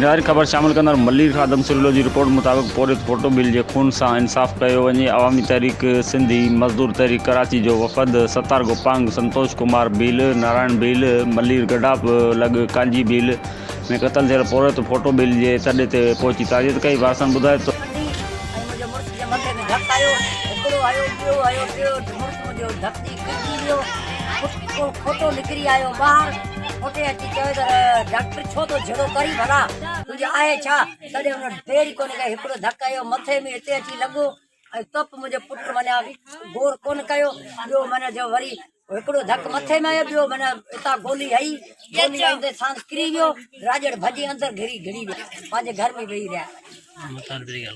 نهايت خبر شامل ڪندڙ ملير خادم سريلو جي رپورٽ مطابق پورهيت پوٽو ڀيل جي خون سان انصاف ڪيو وڃي عوامي تحريڪ سنڌي مزدور تحريڪ ڪراچي جو وفد ستار گوپانگ سنتوش ڪمار ڀيل نارائڻ ڀيل ملير گڊاپ لڳ ڪانجي ڀيل ۾ قتل ٿيل پورهيت پوٽو ڀيل جي تڏي تي پهچي تعزيت ڪئي وارثن ٻڌايو ته اتي اچي چوي ته ڊاڪٽر ڇو ٿو جھڙو ڪرين ڀلا تنهنجي آهي ڇا تڏهن هن دير ئي ڪونه ڪئي هڪڙو ڌڪ هنيو مٿي ۾ اتي اچي لڳو ۽ تپ منهنجي پٽ منيا غور ڪونه ڪيو ٻيو من جو وري هڪڙو ڌڪ مٿي ۾ آيو ٻيو من اتان گولي هئي گولي هئي ته سان ڪري ويو راڄڙ ڀڄي اندر گھري گھڙي ويا پنهنجي گھر ۾ ويهي رهيا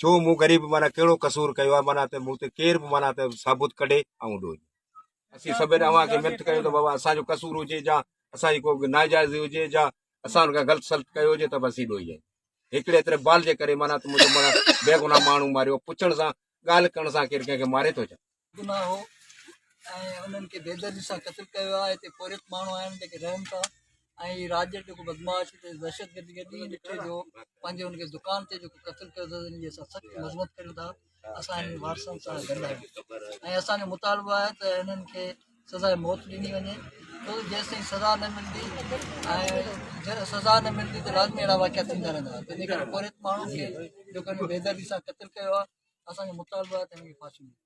ڇو مون غريب معنيٰ ڪهڙو قصور ڪيو آهي معنيٰ ته مون تي ڪير به معنيٰ ته ثابت ڪڍي آئون ڏوهه اسين سڀني اوهان کي منٿ ڪيو ته بابا اسان جو قصور هجي جا اسان جي ڪو ناجائز هجي جا اسان ان کان غلط سلط ڪيو هجي ته به اسين ڏوهي آهيون هڪڙي ايتري بال جي ڪري معنيٰ ته منهنجو معنيٰ بيگناهه ماڻهو ماريو پڇڻ سان ڳالهه ڪرڻ سان ڪير ڪنهن کي ماري ٿو ڇا گناهه هو ۽ انهن کي بيدردي سان قتل ڪيو ويو آهي هتي پورهيت ماڻهو آهن جيڪي رهن ٿا ۽ هي راڄ جو جيڪو بدمعاش دهشتگردي کي ڏينهن ڏٺو جو پنهنجي ان کي دڪان تي جيڪو قتل ڪيو اٿس ان جي اسان سخت مذمت ڪريون ٿا اسان هنن وارثن سان گڏ آهيون ۽ اسان جو مطالبو آهي ته هنن کي سزا موت ڏني وڃي ڇو جيسين سزا نه ملندي ۽ جڏهن سزا نه ملندي ته لازمي اهڙا واقعا ٿيندا رهندا تنهنجي ڪري پورهيت ماڻهن کي جيڪو هن بيدردي سان قتل ڪيو آهي اسان جو مطالبو آهي ته هن کي ڦاسي ملي